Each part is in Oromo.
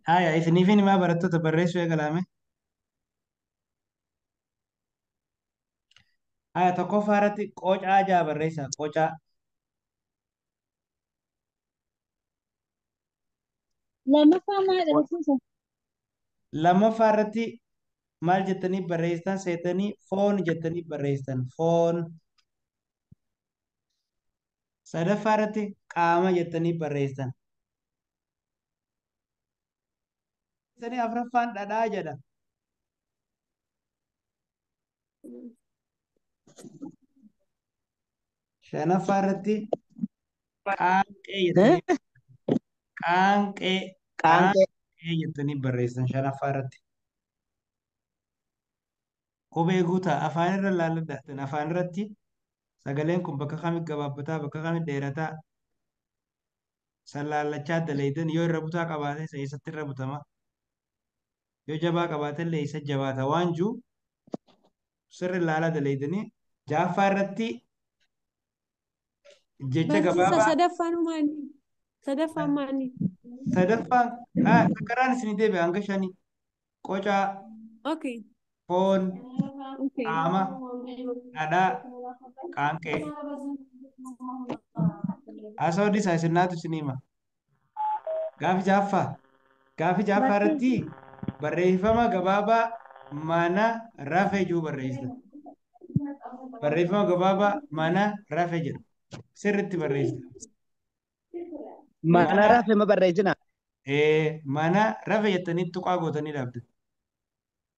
Haya, isiniif himaa barattoota barreessuu eegalaame. Haya, tokkoffaa irratti qocaa ja'a barreessaa. Qocaa. Lammaffaa maal dhalasiisa? Lammaffaa irratti maal jettanii barreessitan seetanii foon jettanii barreessitan. Foon. sadaffaa irratti qaama jettanii barreessitan. Sanii afraffaan dhadhaa jedha. Shanaffaa irratti qaanqee jettanii qaanqee Qaanqee. qaanqee jettanii barreessitan shanaffaa irratti. Qubee guutaa. Afaan irra laalla dahtan. Afaan irratti sagaleen kun bakka kami gabaabbataa, bakka kami dheerataa san laallachaa dalaydan yoo irra butaa qabaate isa eessatti irra butama. Yoo jabaa qabaate illee isa jabaata waan jiru sirri laala dalaydanii. Ja'affaa irratti Jecha Barsiisa gabaabaa sadaffaan maali? Sadaffaan maali? sadaffaa ah, sakaraan isinii deebi'a hanga shanii. Qocaa, Okay. foon, Okay. qaama, dhadhaa, qaanqee. Haasawaa dhiisaa isin naatu isinii hima. Gaafi jaaffaa. Gaafi jaaffaa irratti barreeffama gabaabaa mana rafe jiru barreessa. Barreeffama gabaabaa mana rafe jedhu sirriitti barreessa. Mana rafe ma barreessina? Ee, mana rafe jettanii tuqaa gootanii dhaabdu.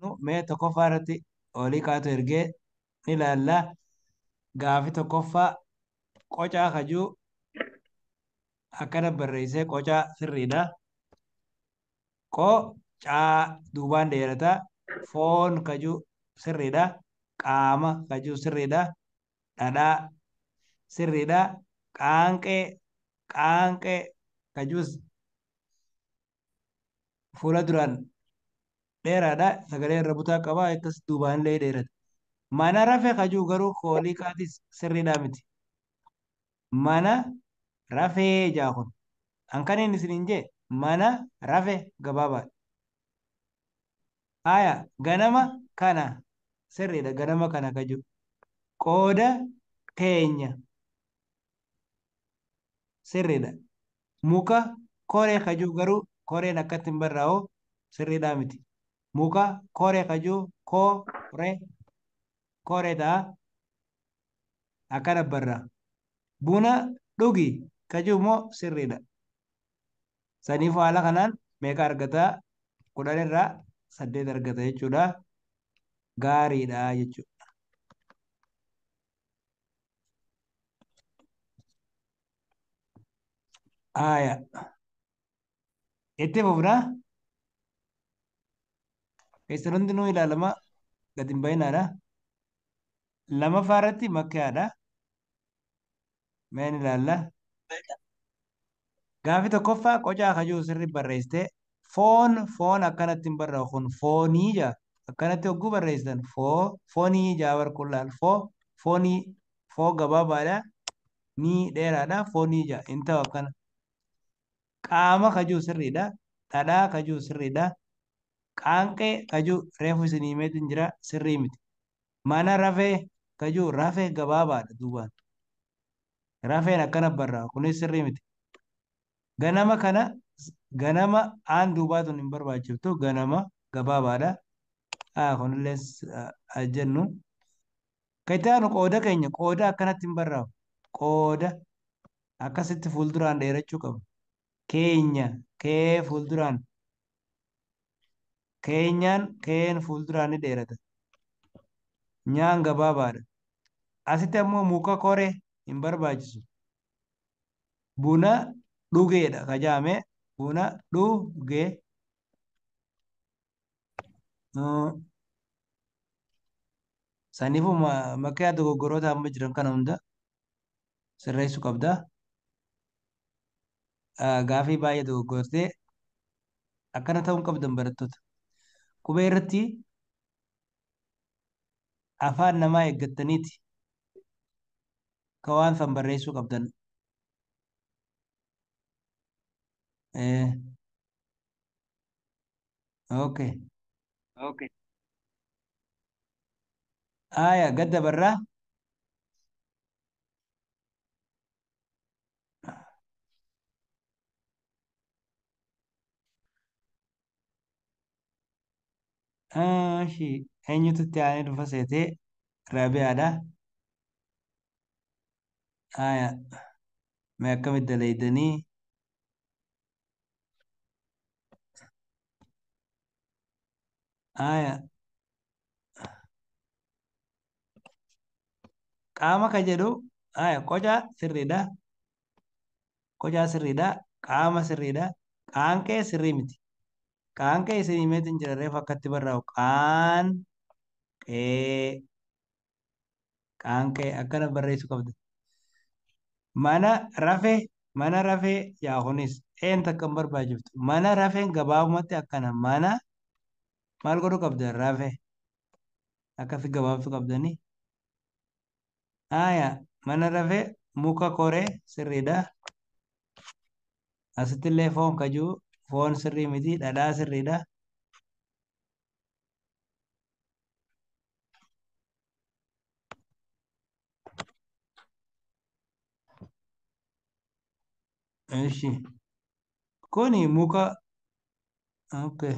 Nu mee tokkoffaa irratti olii kaatu ergee ni ilaalla. Gaafi tokkoffaa qocaa kajuu akkana barreessee qocaa sirriidha. Qocaa duubaan dheerata. Foon kajuu sirriidha. Qaama kajuu sirriidha. Dhadhaa sirriidha. Qaanqee qaanqee kajuus fuula duraan dheeraadha sagalee irra butaa qaba akkas duubaan illee dheerata mana rafe kajuu garuu koolii kaatis sirriidhaa miti mana rafee jaa kun hankaniin isiniin jee mana rafe gabaabaadha haya ganama kana sirriidha ganama kana kajuu qooda teenya sirriidha. Muka koree kajuu garuu koreen akkatti hin barraa'u sirriidhaa miti. Muka koree kajuu koo re koree ta'a akkana barraa. Buna dhugi kajuu immoo sirriidha. Saniif haala kanaan meeqa argata kudhan irraa saddeet argata jechuudha. Gaariidha jechuudha. Aya. Itti fufna. Keessan hundinuu ilaalama gad hin bahinaadha. Lamaffaa irratti makkaadha. Meen ilaalla. Gaaffii tokkoffaa qocaa ka jiru sirri barreessite foon foon akkanatti hin barra'u kun foonii jaa akkanatti hogguu barreessitan foo foonii jaa bar kun laal foo foonii foo gabaabaadha nii dheeraadha foonii jaa hin ta'u akkana qaama ka jiru sirriidha dhadhaa ka jiru sirriidha qaanqee ka jiru reefu isin himeetiin jira sirrii miti mana rafee ka jiru rafee gabaabaadha duubaan Rafeen akkana barraa kunis sirrii miti. Ganama kana ganama aan duubaa tun hin barbaachiftu ganama gabaabaadha. Haa kunillee haa jennu. Kan itti aanu qooda keenya qooda akkanatti hin barraa'u. Qooda akkasitti fuulduraan dheerachuu qaba. Keenya kee fuulduraan Keenyaan keen fuulduraan ni dheerata. Nyaan gabaabaadha. Asitti ammoo muka kore hin barbaachisu. Buna dhugeedha ka jaame buna dhuge. Saniifuu makiyaa dogoggoroota amma jiran kana hunda sirreessu qabda. Gaafii baay'ee dogoggortee akkana ta'uu hin qabdan barattoota. Qubee irratti afaan namaa eeggattaniiti ka waan san barreessuu qabdan. Okay. Okay. Aya gad dabarraa. Ashi eenyutu itti aanee dhufa seetee Raabiyaadha. Aya mee akkamitti dalaydanii? Aya. Qaama ka jedhu aya qoca sirriidha. Qocaa sirriidha. Qaama sirriidha. Qaanqee sirrii miti. Qaanqee isin himeetiin jira reefu akkatti barraa'u qaanqee Qaanqee akkana barreessuu qabda. Mana rafee mana rafee yaa kunis een takka hin barbaachiftu. Mana rafeen gabaabumatti akkana mana maal godhuu qabda rafe akkasi gabaabsuu qabdanii. Haaya mana rafee muka koree sirriidha. Asitti illee foon kajuu foon sirrii miti dhadhaa sirriidha. Ishi. Kuni muka. Okay.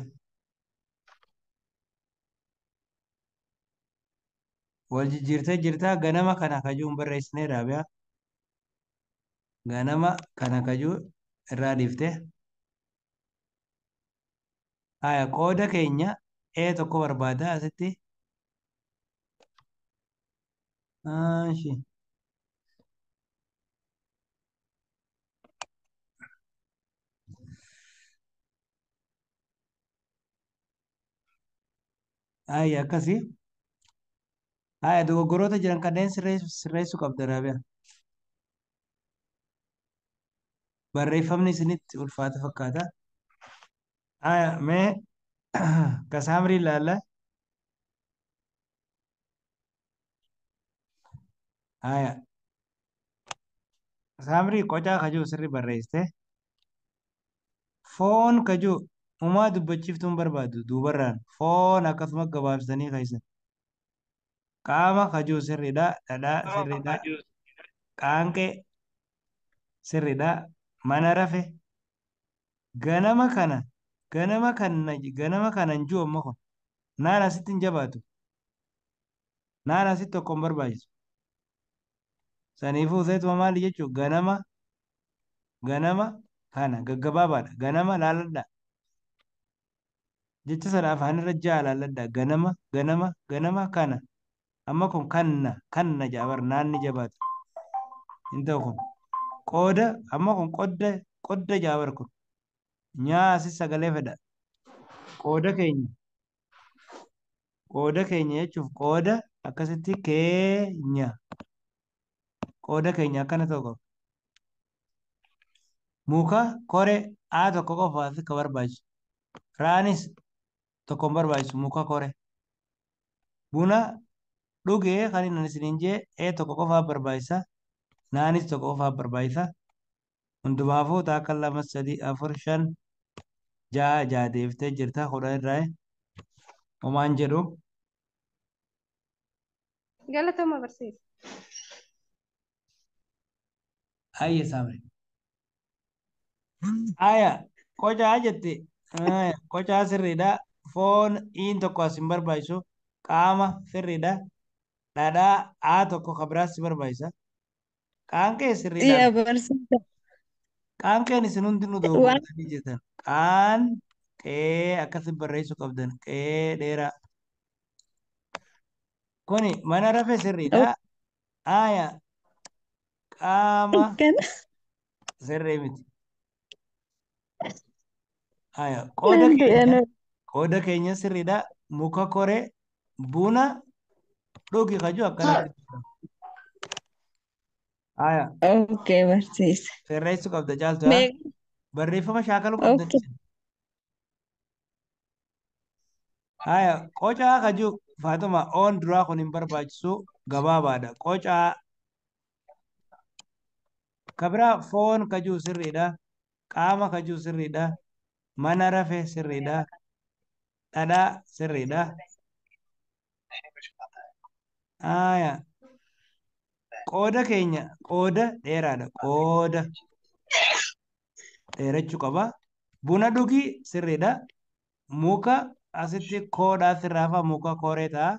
Wal jijjiirtee jirtaa ganama kana kajuu hin barreessine raabiyaa. Ganama kana kajuu irraa dhiifte. Haya qooda keenya A tokko barbaada asitti. Maashi. Haya akkasii. Haya dogoggoroota jiran kanneen sirreessu qabda Raabiyaa. barreeffamni isinitti ulfaata fakkaata. Aya mee ka saamrii ilaalla. Aya. Saamrii qocaa kajuu sirri barreessite. Foon kajuu umaa dubbachiiftuun barbaadu duubarraan foon akkasuma gabaabsitanii keessan. Qaama kajuu sirridha. Dhadhaa sirridha. Qaanqee sirridha. Mana rafe. Ganama kana ganama kana ganama kana hin jiru amma kun. Naan asitti hin jabaatu. Naan asitti tokko hin barbaachisu. Saniifuu seetuma maali jechuun ganama ganama kana gaggabaabaadha. Ganama laaladhaa. Jecha sana afaanirra ja'a laalladhaa. Ganama, ganama, ganama, kana. Amma kun kanna, kanna ja'a bar naan ni jabaata. Hin ta'u kun. Qooda, amma kun qodda, qodda ja'a bar kun. Nyaa asis sagalee fedha. Qooda keenya. Qooda keenya jechuuf qooda akkasitti keenya. qooda keenya akkana ta'u qaba. Muka kore A tokko qofaaf akka barbaachisu. Raanis tokko hin barbaachisu muka kore. Buna dhugee kan inni isiniin jee A tokko qofaaf barbaachisa. Naanis tokko qofaaf barbaachisa. Hundumaafuu taakka lama sadii afur shan ja'a ja'a deeftee jirta kudhan irraa homaan jedhu. Galatoma barsiisa. Ayya saamre. Aya qocaa jette Aya, qocaa sirriidha foon iin tokko as hin barbaachisu qaama sirriidha dhadhaa aa tokko ka biraas si barbaachisa Qaanqee sirrii Yaa laal. barsiisa. Qaanqeen isin hundinuu Waan dogoggortanii jirtan. Qaan qee akkasi barreessuu qabdan. Qee dheeraa. Kuni mana rafee sirriidha. Aaya qaama kana sirrii miti. Haya, qooda Naan keenya jedhame. qooda keenya sirriidha. Muka koree buna dhugi kaju akkanatti. Haya, Okay, barsiisa. sirreessuu qabda caaltu. haa? Meeqa? Barreeffama shaakaluu qabda. Okay. Haya, qocaa ka jiru Faaxuma oon duraa kun hin barbaachisu gabaabaadha. Qocaa ka biraa foon ka jiru sirriidha. Qaama ka jiru sirriidha. Mana rafe sirriidha. Dhadhaa sirriidha. Haya, qooda keenya qooda dheeraadha. Qooda. dheerachuu qaba. Buna dhugi sirriidha. Muka asitti koodhaa sirraa hafaa muka kooree ta'a.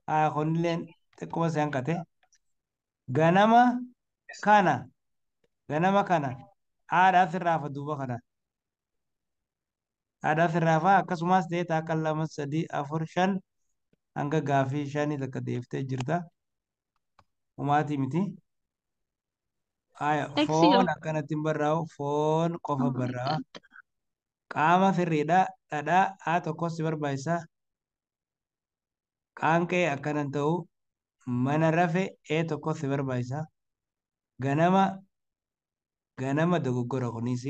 Haa kunilleen xiqquma si hanqate. Ganama kana ganama kana haadhaa sirraa hafa duuba kana. Haadhaa sirraa hafa akkasumas ta'ee takka lama sadii afur shan hanga gaafii shanii takka deeftee jirta. Umaatii miti. Haya, X foon jedhama. akkanatti hin barraa'u. Foon qofa Oh my barraa'a. God. Qaama sirriidha. Dhadhaa A tokkos si barbaachisa. Qaanqee akkana hin ta'u. Mana rafe A tokkos si barbaachisa. Ganama ganama dogoggora kunis.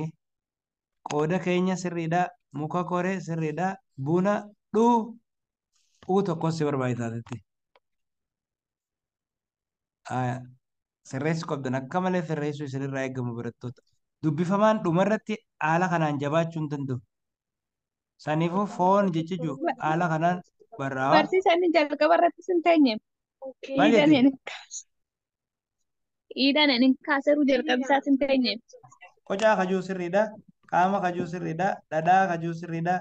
Qooda keenya sirriidha. Muka kore sirriidha. Buna dhuu U tokkos si barbaachisa asitti. Aya. Sirreessuu qabdan akka malee sirreessuu isinirraa eegamu barattoota. Dubbifamaan dhumarratti haala kanaan jabaachuu hin danda'u. Saniifuu foon jechiju haala kanaan barraawa. Barsiisa inni jalqaba irratti sin teenye. Maal Iidhaan jette? hin kaase. Iidhaan hin kaaseru jalqabi isaa sin teenye. Qocaa kajuu sirriidha. Qaama kajuu sirriidha. Dhadhaa kajuu sirriidha.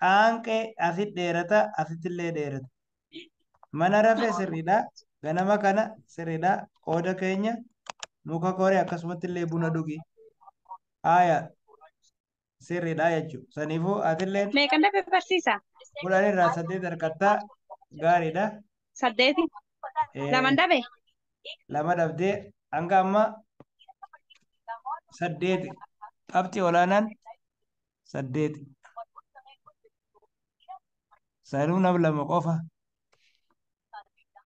Qaanqee asit dheerata asittillee dheerata. Mana rafee sirriidha. Ganama kana sirriidha. Qooda keenya muka kori akkasumattillee buna dhugi. Haaya sirriidha jechuudha. Saniifuu atilleen Meeqa dabe barsiisa? kudhan irraa saddeet harkattaa gaariidha. Saddeeti. Eh, Laman dabe? lama dhabdee hanga amma saddeeti qabxii olaanaan saddeeti sanuunaf lama qofa